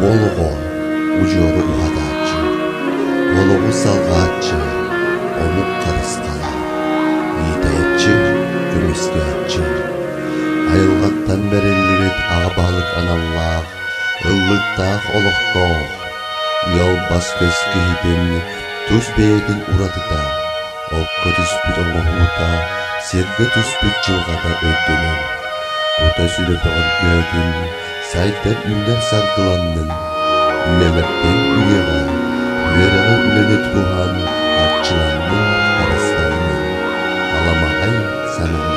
Волого удьуору уһатааччы, вологу салҕааччы, омук харыстала, иитээччи, күрүөстээччи, айылҕаттан бэриллибит аҕа баһылык аналлаах Ыллыктаах олохтоох, ыал бас-көс киһитин тус бэйэтин уратыта, окко түспүт оҥоһуута, сиргэ түспүт дьылҕата өйдөнөн, кута сүрэ бөҕөргөөтүн, сайдан үүнэр саргыланнын, нэлэптин үйэҕэ, үөрэҕэ үлэлэт туһан арчыланнын, харыстаннын, аламаҕай сананнын.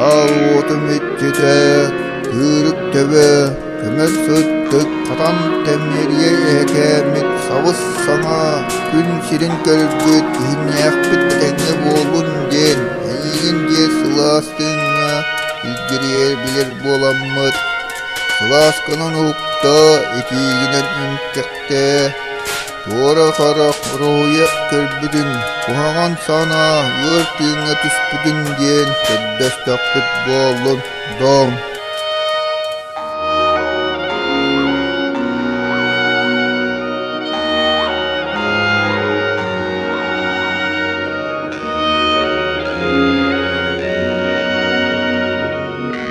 Аруотум иччитэ, тыырык төбө, көмөр сыттык, хатам тэмнэрийэ эһэкээммит сабыс-саҥа күн сирин көрөрбүт иһиннээхпит этэҥҥэ буоллун диэн эйиигин диэ сылаас тыыҥҥа илгирийэр билэр буоламмыт Кылаасканан укта итиигинэн үҥкэхтээ, туора харах уруһуйа көрбүтүн, куһаҕан санаа ыар тыыҥҥа түспүтүн диэн көрдөстөхпүт буоллун, дооҥ.